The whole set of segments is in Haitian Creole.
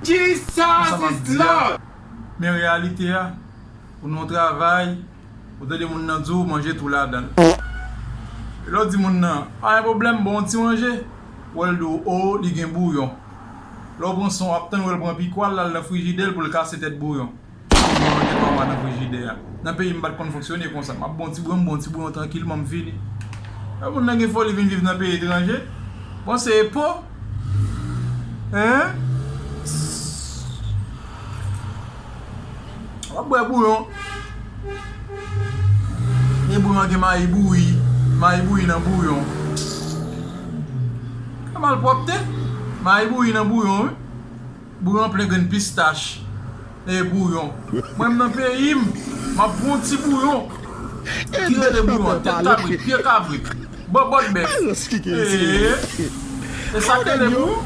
Konsa map di a Men reyalite a Ou nan yon travay Ou tande moun nan di w manje tou ladan l Lè w di moun nan Pa gen pwoblèm Bon w ti manje Ou wè l di w oo li gen bouyon Lè w pran son w ap tann wè l pran pikwa l la l nan frijidè l pou l kase tèt bouyon Kounya mwen gen Wawa nan frijidè a. Nan peyi m m pa t konn fonksyone konsa. M ap bon ti bouyon, m bon ti bouyon trankilman, m fini. Lè moun nan gen foli vin viv nan peyi etranje, bon se epo! Eehh! W ap bwè bouyon. Gen bouyon an gen mayi bouyi, mayi bouyi nan bouyon. Eehh! Malpwòpte! Mayi bouyi nan bouyon wi. Bouyon plen grenn pistach e bouyon. Mwen m nan peyi m, m ap pran yon ti bouyon ki rele bouyon tèt kabrit, pye kabrit, bòbòt bèf ee e sa k rele bouyon.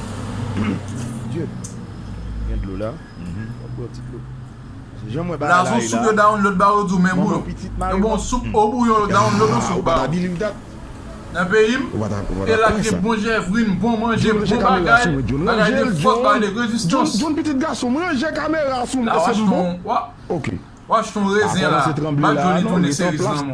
Blason soup yo download ba yo dou men bouyon Yon bon soup ou bouyon yo download yon soup ba ou Nan peyi m e la k gen bon jèvrin bon manje bon bagay bagay de fòs bagay de rezistans La wach fon wach fon rezen la Bak Jhonny tounen seriz lanmò.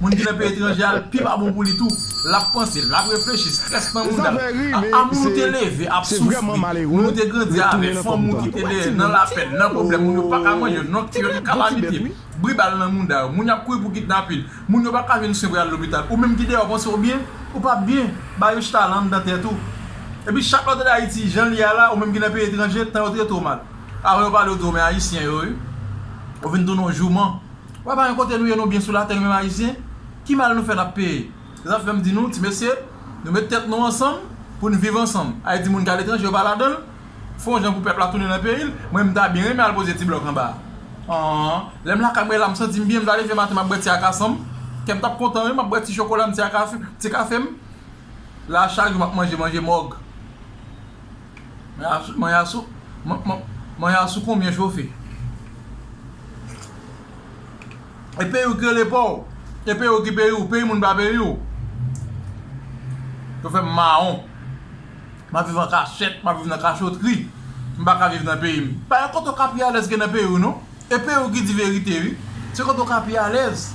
Moun ki nan peyi etranje a pi pa bon pou li tou. L ap panse, l ap reflechi, strès nan mouda l. Aa moun ou te leve ap soufri, moun ou te grandi avè, fanmi ou ki te dèyè nan lapèn, nan pwoblèm, moun yo pa ka manje, nòt yo, yon kalamite, bri bal nan mouda yo, moun y ap kouri pou kidnapin, moun yo pa ka jwenn swen pou y al lopital. Ou menm ki deyò panse w byen, ou pa byen. Ba yo chita lan anndan tèt ou. Epi chak lè w tande Ayiti jan l ye a la, ou menm ki nan peyi etranje, tan yo trete w mal. Avan yo pale w di w men Ayisyen yo wi. Ou vin tounen w jouman. Wè pa gen kote nou ye nou byen sou latè nou menm ayisyen, ki mal nou fè nap peye? Se sa fèm di nou ti mesye nou met tèt nou ansanm poun viv ansanm, ayiti moun ki al etranje yo pa ladanl, fon jan pou pèp la tounen nan peyil, mwen m ta byen renmen al poze ti blòk anba a an, lèm lakay mwen la m santim byen m ta leve maten map bwè ti akasanm, kèm tap kontan wi map bwè ti chokolam ti kafem, la chak jou map manje manje mòg. Mwen ya sou konbyen chofe. E peyi ou ki rele paw. E peyi ou ki peyi ou. Peyi moun pa peyi ou. Yo fem maron. Map viv an kachet. Map viv nan kachotri. M pa ka viv nan peyi m. Pa gen kote ou ka pi alez ke nan peyi ou non. E peyi ou ki di verite wi. Se kote ou ka pi alez.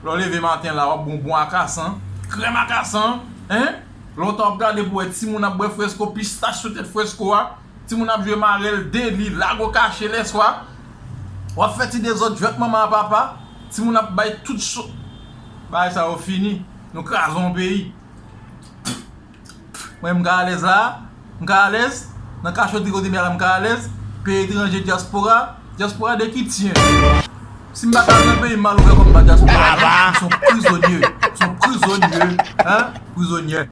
Le w leve maten la wap bon bon akasan. Krem akasan. Lontan wap gade pou wè timoun ap bwè fresko, pistach sou tèt fresko a, timoun ap jwe marèl, deli, lago kache lèswa, wap fè ti dezòd jwèt manman a papa, timoun ap bay tout so. Bagay sa yo fini. Nou kraze yon peyi. Pff! Mwen m ka alèz la a? M ka alèz? Nan kachotri kote m ye la m ka alèz? Peyi etranje dyaspora? Dyaspora de ki tyen? Si m pa ka al nan peyi m m al wè kòman dyaspora ye? M son prizonye. M son prizonye. Hein? Prizonyè.